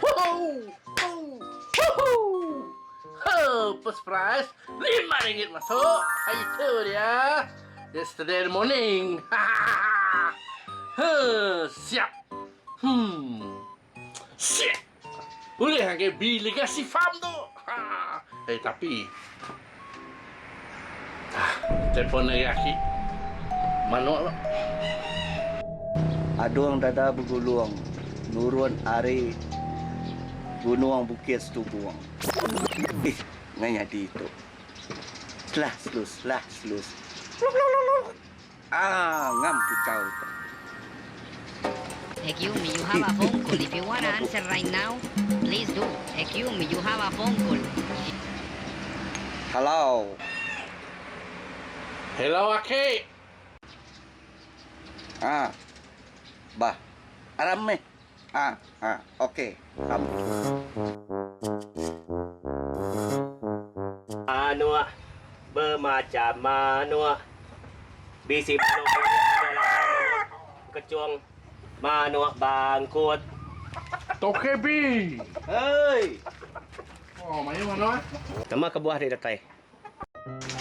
Huhuu Huhuu Hoo First prize lima ringgit masuk Hari tu dia Yesterday morning Hahaha Huh Siap Hmm Shit Ulih agak beli legacy farm tu Haa Eh tapi Telefon ari aki manuk tu. Adung dada begulung nurun ari gunung bukit setubung. Ih ngai nyadi tu. Slah slus slah slus. Luk luk luk luk. Aaa ngam kuchau tu. Hello. Hello aki. Haa. Bah. Aram meh. Ha ha ok am. Manuk bemacham manuk. Bisi manuk bilik ada lapan manuk kechung, manuk bangkut. Tok KB. Hei. Oh mayuh anuh ah. Nama kebuah ri datai.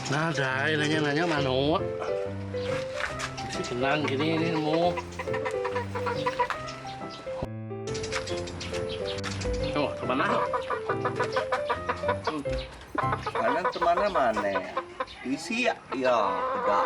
Nadai nanya-nanya manok. Bisi senang kini ni nemu. Oh, ke mana? Mana ke mana mana? Isi ya, ya, dak.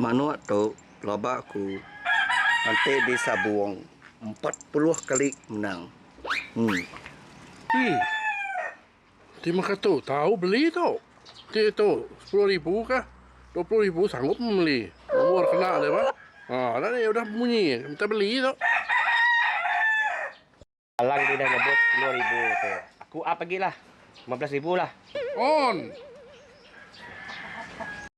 Manuk tu pelaba aku enti di sabung empat puluh kali menang. Emm. Eii. Ti mega tu tau beli tu. Ti tu sepuluh ribu kah dua puluh ribu sanggup membeli. Umur kena dia bah. Ha, dah ni udah bunyi minta beli tu. Alang tu udah nyebut sepuluh ribu tu. Aku up agi lah. Lima belas ribu lah. On.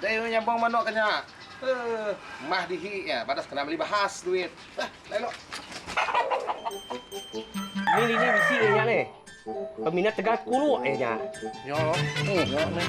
Deh oi nyabong manok ke nya. Huh mah dihi iya badas kena meli bahas duit. Beh lai lo. Ni lini bisi iya nya leh. Peminat tegal kulu iya nya. Nyo lo. Huh nyo meh.